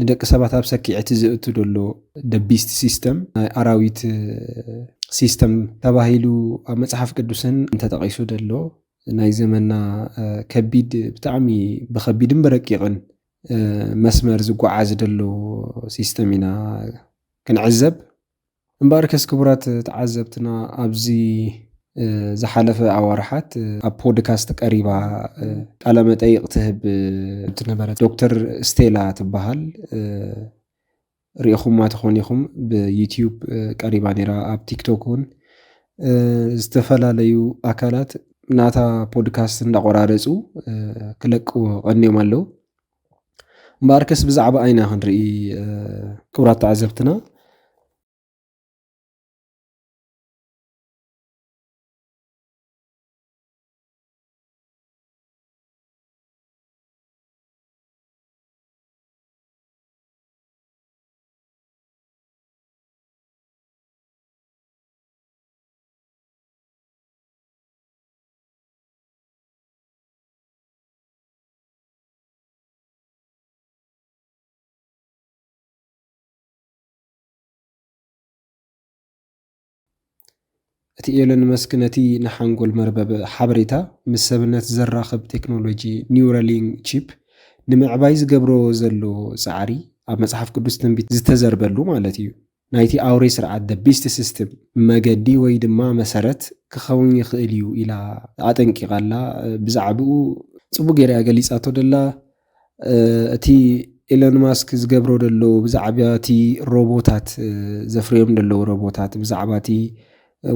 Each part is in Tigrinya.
ንደቂ ሰባት ኣብ ሰኪዐቲ ዘእቱ ዘሎ ደቢስት ሲስተም ናይ ኣራዊት ሲስተም ተባሂሉ ኣብ መጽሓፍ ቅዱስን እንተጠቒሱ ዘሎ ናይ ዘመና ከቢድ ብጣዕሚ ብኸቢድን ብረቂቕን መስመር ዝጓዓዝ ዘሎ ሲስተም ኢና ክንዕዘብ እምበኣርከስ ክቡራት ተዓዘብትና ኣብዚ ዝሓለፈ ኣዋርሓት ኣብ ፖድካስት ቀሪባ ቃለመጠይቕ ትህብ እትነበረት ዶክተር ስቴላ ትበሃል ሪኢኹማ ትኾኑ ኢኹም ብዩትዩብ ቀሪባ ነይራ ኣብ ቲክቶክ እውን ዝተፈላለዩ ኣካላት ናታ ፖድካስት እንዳቆራረፁ ክለቅዎ ቀንዮም ኣለዉ። እምበኣርከስ ብዛዕባ ኣይና ክንርኢ ክብራት ተዓዘብትና እቲ ኤሎን መስክ ነቲ ንሓንጎል መርበብ ሓበሬታ ምስ ሰብነት ዘራኽብ ቴክኖሎጂ ኒውራሊንክ ቺፕ ንምዕባይ ዝገብሮ ዘሎ ጻዕሪ ኣብ መጽሓፍ ቅዱስ ትንቢት ዝተዘርበሉ ማለት እዩ። ናይቲ ኣውሬ ስርዓት፣ the beast system፣ መገዲ ወይ ድማ መሰረት ክኸውን ይኽእል እዩ ኢላ ኣጠንቂቓ ኣላ። ብዛዕብኡ ጽቡቕ ገይራ እያ ገሊጻቶ ደላ። እቲ ኤሎን ማስክ ዝገብሮ ደሎ ብዛዕባ እቲ ሮቦታት ዘፍርዮም ደለዉ ሮቦታት ብዛዕባ እቲ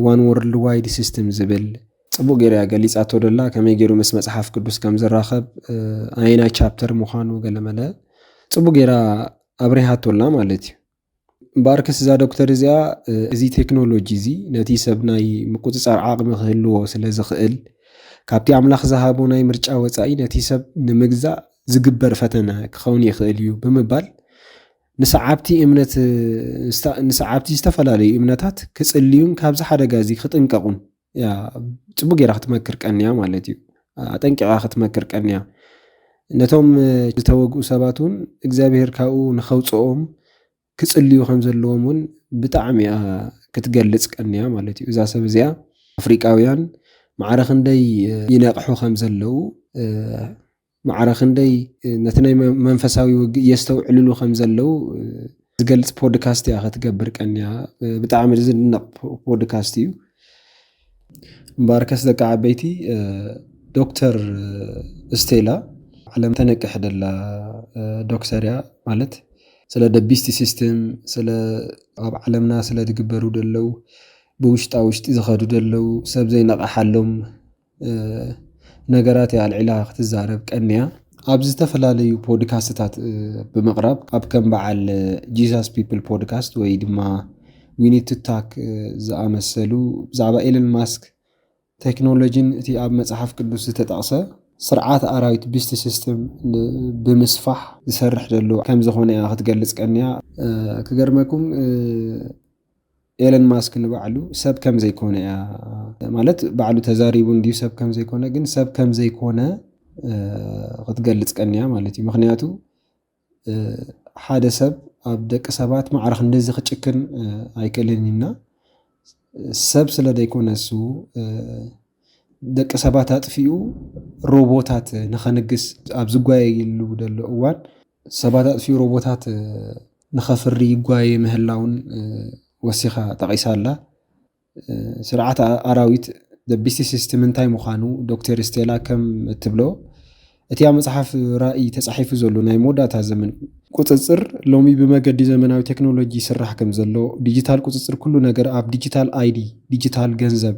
ዋን ወርልድ ዋይድ ሲስተም ዝብል ጽቡቕ ገይራ እያ ገሊጻቶ ደላ። ከመይ ገይሩ ምስ መጽሓፍ ቅዱስ ከም ዝራኸብ ኣየናይ ቻፕተር ምዃኑ ገለመለ ጽቡቕ ገይራ ኣብሪሃቶላ ማለት እዩ። ባርክስ እዛ ዶክተር እዚኣ እዚ ቴክኖሎጂ እዚ ነቲ ሰብ ናይ ምቁፅፃር ዓቕሚ ክህልዎ ስለ ዝኽእል ካብቲ ኣምላኽ ዝሃቦ ናይ ምርጫ ወፃኢ ነቲ ሰብ ንምግዛእ ዝግበር ፈተነ ክኸውን ይኽእል እዩ ብምባል ንሰዓብቲ እምነት ንሰዓብቲ ዝተፈላለዩ እምነታት ክጽልዩን ካብዚ ሓደጋ እዚ ክጥንቀቑን ጽቡቅ ጌራ ክትመክር ቀንያ ማለት እዩ ኣጠንቂቃ ክትመክር ቀንያ ነቶም ዝተወግኡ ሰባት እውን እግዚኣብሄር ካብኡ ንኸውፅኦም ክፅልዩ ከም ዘለዎም እውን ብጣዕሚ እያ ክትገልፅ ቀንያ ማለት እዩ እዛ ሰብ እዚኣ ኣፍሪቃውያን ማዕረ ክንደይ ይነቕሑ ከም ዘለዉ ማዕረ ክንደይ ነቲ ናይ መንፈሳዊ ውግእ የስተውዕልሉ ከም ዘለው ዝገልጽ ፖድካስት እያ ከትገብር ቀንያ። ብጣዕሚ ዝድነቕ ፖድካስት እዩ። እምበኣርከስ ደቂ ዓበይቲ ዶክተር ስቴላ ዓለም ተነቅሕ ደላ ዶክተር እያ ማለት ስለ ደቢስቲ ሲስተም ስለ ኣብ ዓለምና ስለ ዝግበሩ ደለው ብውሽጣ ውሽጢ ዝኸዱ ደለው ሰብ ዘይነቐሓሎም ነገራት እያ ኣልዒላ ክትዛረብ ቀንያ። ኣብ ዝተፈላለዩ ፖድካስትታት ብምቕራብ ኣብ ከም በዓል ጂዛስ ፒፕል ፖድካስት ወይ ድማ ዊኒቱ ታክ ዝኣመሰሉ ብዛዕባ ኤለን ማስክ ቴክኖሎጂን እቲ ኣብ መጽሓፍ ቅዱስ ዝተጠቕሰ ስርዓት ኣራዊት ቢስት ሲስተም ብምስፋሕ ዝሰርሕ ዘሎ ከም ዝኾነ እያ ክትገልጽ ቀንያ። ክገርመኩም ኤለን ማስክ ንባዕሉ ሰብ ከም ዘይኮነ እያ ማለት ባዕሉ ተዛሪቡ እንድዩ ሰብ ከም ዘይኮነ ግን ሰብ ከም ዘይኮነ ክትገልጽ ቀንያ ማለት እዩ ምክንያቱ ሓደ ሰብ ኣብ ደቂ ሰባት ማዕረ ክንደዚ ክጭክን ኣይክእልን እዩና ሰብ ስለ ዘይኮነ እሱ ደቂ ሰባት ኣጥፊኡ ሮቦታት ንኸንግስ ኣብ ዝጓየየሉ ዘሎ እዋን ሰባት ኣጥፊኡ ሮቦታት ንኸፍሪ ይጓየ ምህላውን ወሲኻ ጠቒሳ ኣላ። ስርዓት ኣራዊት ዘ ቢስት ሲስተም እንታይ ምዃኑ ዶክተር ስቴላ ከም እትብሎ እቲ ኣብ መጽሓፍ ራእይ ተጻሒፉ ዘሎ ናይ መወዳእታ ዘመን ቁጽጽር ሎሚ ብመገዲ ዘመናዊ ቴክኖሎጂ ይስራሕ ከም ዘሎ፣ ዲጂታል ቁጽጽር ኩሉ ነገር ኣብ ዲጂታል ኣይዲ፣ ዲጂታል ገንዘብ፣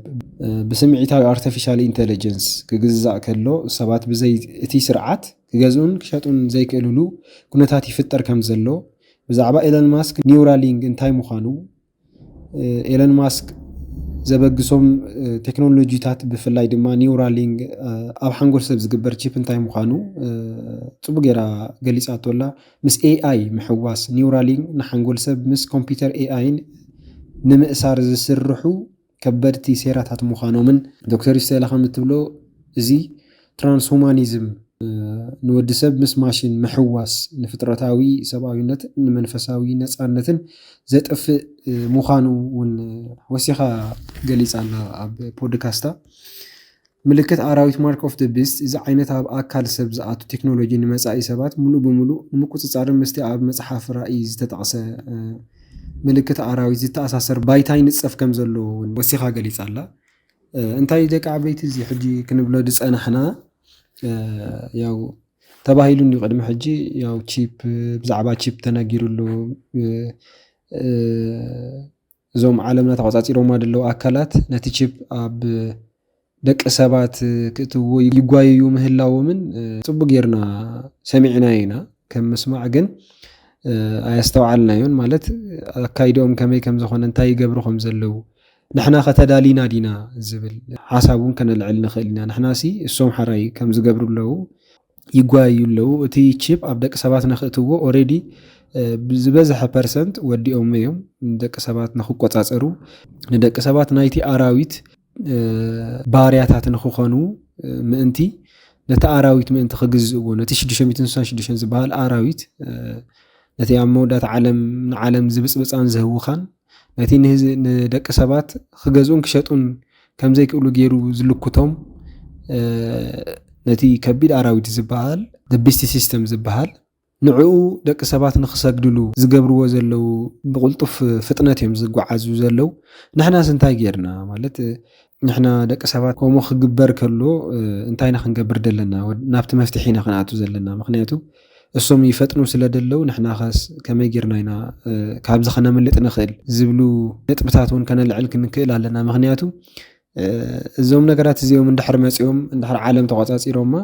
ብስምዒታዊ ኣርተፊሻል ኢንተለጀንስ ክግዛእ ከሎ ሰባት ብዘይ እቲ ስርዓት ክገዝኡን ክሸጡን ዘይክእልሉ ኩነታት ይፍጠር ከም ዘሎ ብዛዕባ ኤለን ማስክ ኒውራሊንግ እንታይ ምዃኑ ኤለን ማስክ ዘበግሶም ቴክኖሎጂታት ብፍላይ ድማ ኒውራሊንግ ኣብ ሓንጎል ሰብ ዝግበር ቺፕ እንታይ ምዃኑ ፅቡቅ ጌራ ገሊፃቶ ኣላ ምስ ኤኣይ ምሕዋስ ኒውራሊንግ ንሓንጎል ሰብ ምስ ኮምፒውተር ኤኣይን ንምእሳር ዝስርሑ ከበድቲ ሴራታት ምዃኖምን ዶክተር ስቴላ ከም እትብሎ እዚ ትራንስሁማኒዝም ንወዲ ሰብ ምስ ማሽን ምሕዋስ ንፍጥረታዊ ሰብኣዊነት ንመንፈሳዊ ነፃነትን ዘጥፍእ ምዃኑ እውን ወሲኻ ገሊፃ ኣላ ኣብ ፖድካስታ ምልክት ኣራዊት፣ Mark of the Beast፣ እዚ ዓይነት ኣብ ኣካል ሰብ ዝኣቱ ቴክኖሎጂ ንመጻኢ ሰባት ምሉእ ብምሉእ ንምቁጽጻርን ምስቲ ኣብ መጽሓፍ ራእይ ዝተጠቕሰ ምልክት ኣራዊት ዝተኣሳሰር ባይታ ይንጸፍ ከም ዘሎ እውን ወሲኻ ገሊጻ ኣላ። እንታይ ደቂ ዓበይቲ እዚ ሕጂ ክንብሎ ዝጸናሕና ያው ተባሂሉ እንዲዩ ቅድሚ ሕጂ ያው ቺፕ ብዛዕባ ቺፕ ተነጊሩ ኣሎ እዞም ዓለምና ተቖጻጺሮማ ዘለዉ ኣካላት ነቲ ቺፕ ኣብ ደቂ ሰባት ክእትውዎ ይጓየዩ ምህላዎምን ጽቡቅ ጌርና ሰሚዕናዮ ኢና ከም ምስማዕ ግን ኣየስተውዓልናዮን ማለት ኣካይድኦም ከመይ ከም ዝኾነ እንታይ ይገብሩ ከም ዘለዉ ንሕና ከ ተዳሊና ዲና ዝብል ሓሳብ እውን ከነልዕል ንኽእል ኢና ንሕናሲ እሶም ሓራይ ከም ዝገብሩ ኣለዉ ይጓየዩ ኣለዉ እቲ ቺፕ ኣብ ደቂ ሰባት ነክእትዎ ኦሬዲ ዝበዘሐ ፐርሰንት ወዲኦሞ እዮም ደቂ ሰባት ንክቆጻጸሩ ንደቂ ሰባት ናይቲ ኣራዊት ባርያታት ንክኾኑ ምእንቲ ነቲ ኣራዊት ምእንቲ ክግዝእዎ ነቲ ሽዱሽተ ሚእትን ስሳን ሽዱሽተን ዝበሃል ኣራዊት ነቲ ኣብ መወዳእታ ዓለም ንዓለም ዝብጽብጻን ዝህውኻን ነቲ ንደቂ ሰባት ክገዝኡን ክሸጡን ከም ዘይክእሉ ገይሩ ዝልኩቶም ነቲ ከቢድ ኣራዊት ዝበሃል the beast system ዝበሃል ንዕኡ ደቂ ሰባት ንክሰግድሉ ዝገብርዎ ዘለው ብቕልጡፍ ፍጥነት እዮም ዝጓዓዙ ዘለው ንሕናስ እንታይ ጌርና ማለት ንሕና ደቂ ሰባት ከምኡ ክግበር ከሎ እንታይ ኢና ክንገብር ዘለና? ናብቲ መፍትሒ ኢና ክንኣቱ ዘለና። ምክንያቱ እሶም ይፈጥኑ ስለ ደለው ንሕና ከስ ከመይ ጌርና ኢና ካብዚ ከነምልጥ ንክእል ዝብሉ ነጥብታት እውን ከነልዕል ክንክእል ኣለና። ምክንያቱ እዞም ነገራት እዚኦም እንድሕር መጺኦም እንድሕር ዓለም ተቆጻጺሮማ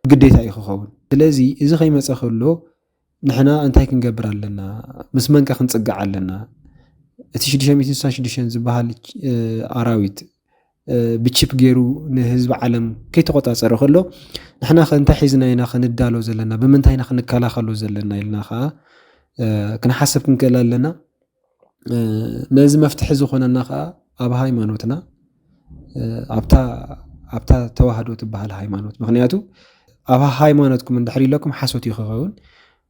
ግዴታ እዩ ክኸውን። ስለዚ እዚ ከይመጸ ከሎ ንሕና እንታይ ክንገብር ኣለና ምስ መንቀ ክንፅጋዕ ኣለና እቲ 666 ዝበሃል ኣራዊት ብቺፕ ገይሩ ንህዝቢ ዓለም ከይተቆፃፀረ ከሎ ንሕና ከ እንታይ ሒዝና ኢና ክንዳሎ ዘለና ብምንታይ ኢና ክንከላኸሎ ዘለና ኢልና ከዓ ክንሓስብ ክንክእል ኣለና ነዚ መፍትሒ ዝኾነና ከዓ ኣብ ሃይማኖትና ኣብታ ተዋህዶ ትበሃል ሃይማኖት ምክንያቱ ኣብ ሃይማኖትኩም እንድሕር ኢለኩም ሓሶት እዩ ክኸውን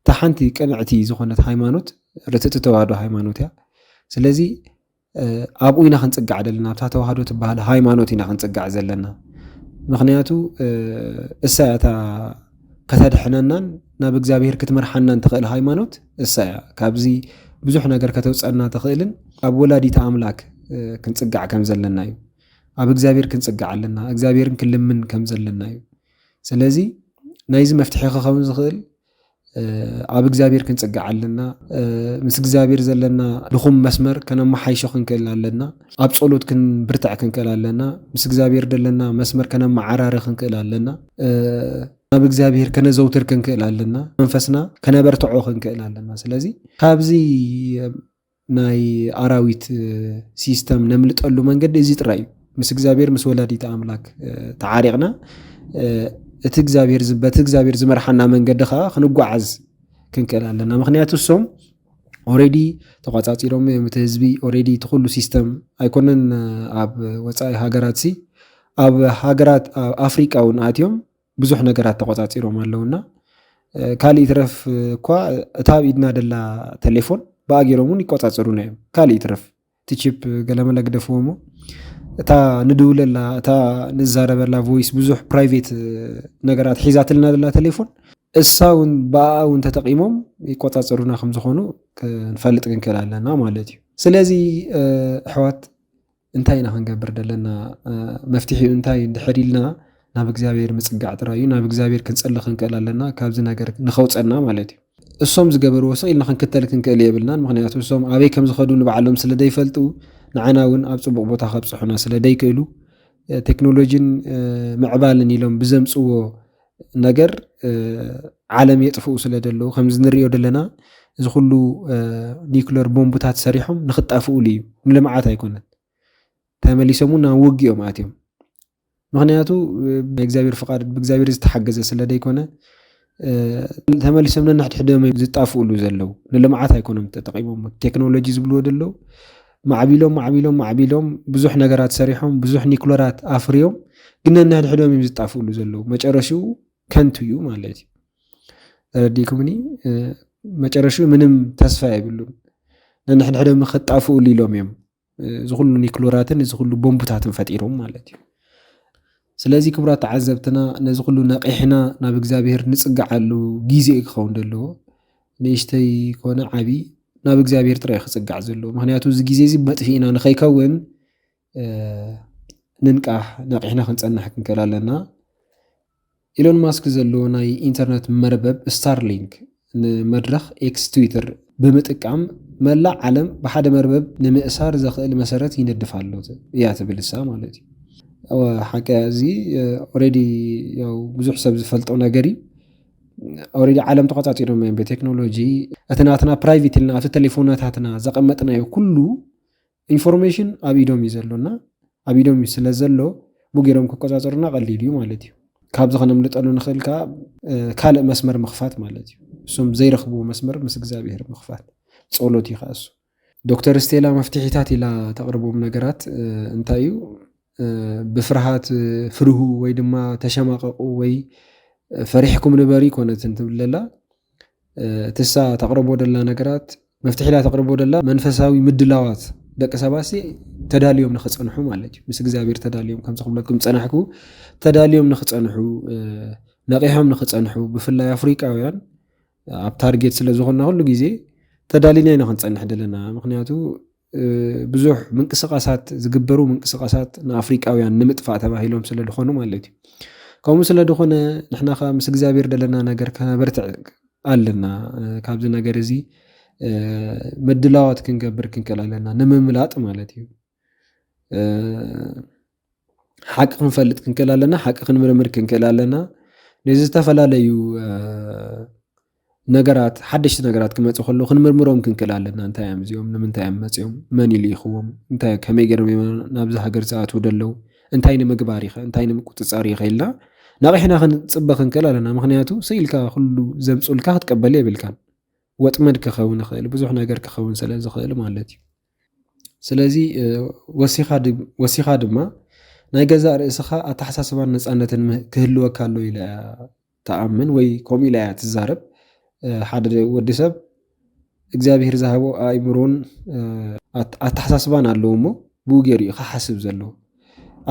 እታ ሓንቲ ቅንዕቲ ዝኾነት ሃይማኖት ርትእቲ ተዋህዶ ሃይማኖት እያ ስለዚ ኣብኡ ኢና ክንፅጋዕ ዘለና ኣብታ ተዋህዶ ትበሃል ሃይማኖት ኢና ክንፅጋዕ ዘለና ምክንያቱ እሳ እታ ከተድሕነናን ናብ እግዚኣብሄር ክትመርሓናን ትኽእል ሃይማኖት እሳ እያ ካብዚ ብዙሕ ነገር ከተውፀና ትኽእልን ኣብ ወላዲተ ኣምላክ ክንፅጋዕ ከም ዘለና እዩ። ኣብ እግዚኣብሔር ክንፅጋዕ ኣለና እግዚኣብሔርን ክንልምን ከም ዘለና እዩ። ስለዚ ናይዚ መፍትሒ ክኸውን ዝኽእል ኣብ እግዚኣብሔር ክንፅጋዕ ኣለና ምስ እግዚኣብሔር ዘለና ድኹም መስመር ከነመሓይሾ ክንክእል ኣለና ኣብ ጸሎት ክንብርትዕ ክንክእል ኣለና ምስ እግዚኣብሔር ዘለና መስመር ከነመዓራሪ ክንክእል ኣለና ናብ እግዚኣብሄር ከነዘውትር ክንክእል ኣለና መንፈስና ከነበርትዖ ክንክእል ኣለና ስለዚ ካብዚ ናይ ኣራዊት ሲስተም ነምልጠሉ መንገዲ እዚ ጥራይ እዩ ምስ እግዚኣብሄር ምስ ወላዲተ ኣምላክ ተዓሪቕና እቲ እግዚኣብሄር በቲ እግዚኣብሄር ዝመርሓና መንገዲ ከዓ ክንጓዓዝ ክንክእል ኣለና ምክንያቱ እሶም ኦሬዲ ተቋጻጺሮም እዮም እቲ ህዝቢ ኦሬዲ እቲ ኩሉ ሲስተም ኣይኮነን ኣብ ወጻኢ ሃገራት ሲ ኣብ ሃገራት ኣፍሪቃ እውን ኣትዮም ብዙሕ ነገራት ተቆጻጺሮም ኣለውና ካልእ ይትረፍ እኳ እታ ኣብ ኢድና ደላ ቴሌፎን ብኣገሮም እውን ይቆጻጸሩና እዮም ካልእ ይትረፍ እቲ ቺፕ ገለመለ ግደፍዎ እሞ እታ ንድውለላ እታ ንዛረበላ ቮይስ ብዙሕ ፕራይቬት ነገራት ሒዛትልና ዘላ ቴሌፎን እሳ እውን ብኣኣ እውን ተጠቂሞም ይቆፃፀሩና ከም ዝኾኑ ክንፈልጥ ክንክእል ኣለና ማለት እዩ ስለዚ ኣሕዋት እንታይ ኢና ክንገብር ዘለና መፍትሒኡ እንታይ እንድሕር ኢልና ናብ እግዚኣብሔር ምጽጋዕ ጥራይ እዩ ናብ እግዚኣብሔር ክንጽሊ ክንክእል ኣለና ካብዚ ነገር ንከውጸና ማለት እዩ እሶም ዝገበርዎ ስቅ ኢልና ክንክተል ክንክእል የብልናን ምክንያቱ እሶም ኣበይ ከምዝከዱ ንባዕሎም ስለ ደይፈልጡ ንዓና እውን ኣብ ጽቡቅ ቦታ ከብጽሑና ስለ ደይክእሉ ቴክኖሎጂን ምዕባልን ኢሎም ብዘምጽዎ ነገር ዓለም የጥፍኡ ስለ ደለዉ ከምዚ ንሪኦ ዘለና እዚ ኩሉ ኒክለር ቦምብታት ሰሪሖም ንክጣፍኡሉ እዩ ንልምዓት ኣይኮነን ተመሊሶም እውን ናብ ውግኦም ኣትዮም ምክንያቱ ናይ እግዚኣብሔር ፍቃድ ብእግዚኣብሔር ዝተሓገዘ ስለ ዘይኮነ ተመሊሶም ነንሕድሕዶም ዝጣፍኡሉ ዘለው ንልምዓት ኣይኮኖም ተጠቂሞም ቴክኖሎጂ ዝብልዎ ዘለው ማዕቢሎም ማዕቢሎም ማዕቢሎም ብዙሕ ነገራት ሰሪሖም ብዙሕ ኒክሎራት ኣፍርዮም ግን ነንሕድሕዶም እዮም ዝጣፍኡሉ ዘለው መጨረሽኡ ከንቱ እዩ ማለት እዩ ተረዲኩምኒ መጨረሽኡ ምንም ተስፋ የብሉን ነንሕድሕዶም ክጣፍኡሉ ኢሎም እዮም እዚ ኩሉ ኒክሎራትን እዚ ኩሉ ቦምብታትን ፈጢሮም ማለት እዩ ስለዚ ክብራት ተዓዘብትና ነዚ ኩሉ ነቂሕና ናብ እግዚኣብሄር ንጽግዓሉ ግዜ እዩ ክኸውን ዘለዎ ንእሽተይ ኮነ ዓቢ ናብ እግዚኣብሄር ጥራይ ክጽጋዕ ዘለዎ ምክንያቱ እዚ ግዜ እዚ መጥፊእና ንኸይከውን ንንቃሕ ነቂሕና ክንጸንሕ ክንክእል ኣለና ኢሎን ማስክ ዘለዎ ናይ ኢንተርነት መርበብ ስታርሊንክ ንመድረኽ ኤክስ፣ ትዊተር፣ ብምጥቃም መላእ ዓለም ብሓደ መርበብ ንምእሳር ዘኽእል መሰረት ይነድፍ ኣሎ እያ ትብል እሳ ማለት እዩ። ሓቂ እዚ ኦሬዲ ያው ብዙሕ ሰብ ዝፈልጦ ነገር እዩ ኦሬዲ ዓለም ተቆፃፂሮም እዮም ብቴክኖሎጂ እቲ ናትና ፕራይቬት ኢልና ኣብቲ ቴሌፎናታትና ዘቐመጥናዮ ኩሉ ኢንፎርሜሽን ኣብ ኢዶም እዩ ዘሎ እና ኣብ ኢዶም እዩ ስለ ዘሎ ቡ ገይሮም ክቆፃፀሩና ቀሊል እዩ ማለት እዩ ካብዚ ከነምልጠሉ ንኽእል ከዓ ካልእ መስመር ምኽፋት ማለት እዩ እሱም ዘይረኽብዎ መስመር ምስ እግዚኣብሄር ምኽፋት ጸሎት እዩ ከዓ እሱ ዶክተር ስቴላ መፍትሒታት ኢላ ተቕርቦም ነገራት እንታይ እዩ ብፍርሃት ፍርሁ ወይ ድማ ተሸማቐቑ ወይ ፈሪሕኩም ንበሪ ኮነትን ትብለላ እትሳ ተቅርቦ ደላ ነገራት መፍትሒላ ተቅርቦ ደላ መንፈሳዊ ምድላዋት ደቂ ሰባሲ ተዳልዮም ንክፀንሑ ማለት እዩ ምስ እግዚኣብሔር ተዳልዮም ከምዚ ክብለኩም ፀናሕኩ ተዳልዮም ንክፀንሑ ነቂሖም ንክፀንሑ ብፍላይ ኣፍሪቃውያን ኣብ ታርጌት ስለዝኮና ኩሉ ግዜ ተዳሊና ኢና ክንፀንሕ ደለና ምክንያቱ ብዙሕ ምንቅስቃሳት ዝግበሩ ምንቅስቃሳት ንኣፍሪቃውያን ንምጥፋእ ተባሂሎም ስለ ዝኾኑ ማለት እዩ ከምኡ ስለ ዝኾነ ንሕና ከዓ ምስ እግዚኣብሔር ደለና ነገር ከበርትዕ ኣለና ካብዚ ነገር እዚ ምድላዋት ክንገብር ክንክእል ኣለና ንምምላጥ ማለት እዩ ሓቂ ክንፈልጥ ክንክእል ኣለና ሓቂ ክንምርምር ክንክእል ኣለና ነዚ ዝተፈላለዩ ነገራት ሓደሽቲ ነገራት ክመፁ ከሎ ክንምርምሮም ክንክእል ኣለና እንታይ እዮም እዚኦም ንምንታይ እዮም መፅኦም መን ኢሉ ይኽዎም እንታይ ከመይ ገይሮም እዮም ናብዚ ሃገር ዝኣትዉ ደለዉ እንታይ ንምግባር ይኸ እንታይ ንምቁፅፃር ይኸ ኢልና ነቂሕና ክንፅበ ክንክእል ኣለና ምክንያቱ ስኢልካ ኩሉ ዘምፁልካ ክትቀበል የብልካን ወጥመድ ክኸውን ይኽእል ብዙሕ ነገር ክኸውን ስለ ዝኽእል ማለት እዩ ስለዚ ወሲኻ ድማ ናይ ገዛእ ርእስኻ ኣተሓሳስባን ነፃነትን ክህልወካ ኣሎ ኢለ ተኣምን ወይ ከምኡ ኢላ እያ ትዛረብ ሓደ ወዲ ሰብ እግዚኣብሄር ዝሃቦ ኣእምሮን ኣተሓሳስባን ኣለዎ እሞ ብኡ ገይሩ እዩ ክሓስብ ዘለዎ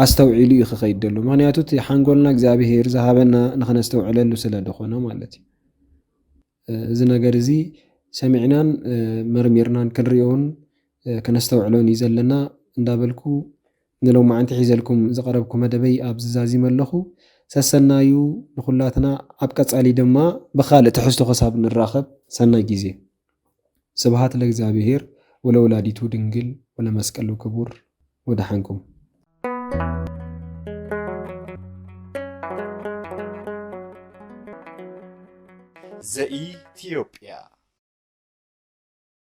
ኣስተውዒሉ እዩ ክኸይድ ዘሎ ምክንያቱ እቲ ሓንጎልና እግዚኣብሄር ዝሃበና ንክነስተውዕለሉ ስለ ዝኾነ ማለት እዩ እዚ ነገር እዚ ሰሚዕናን መርሚርናን ክንሪኦን ከነስተውዕሎን እዩ ዘለና እንዳበልኩ ንሎማዓንቲ ሒዘልኩም ዝቐረብኩ መደበይ ኣብዚ ዛዚመ ኣለኹ። ሰሰናዩ ንኹላትና ኣብ ቀጻሊ ድማ ብኻልእ ትሕዝቶ ክሳብ ንራኸብ ሰናይ ግዜ። ስብሃት ለእግዚኣብሄር ወለወላዲቱ ድንግል ወለመስቀሉ ክቡር። ወደሓንኩም። ዘኢትዮጵያ።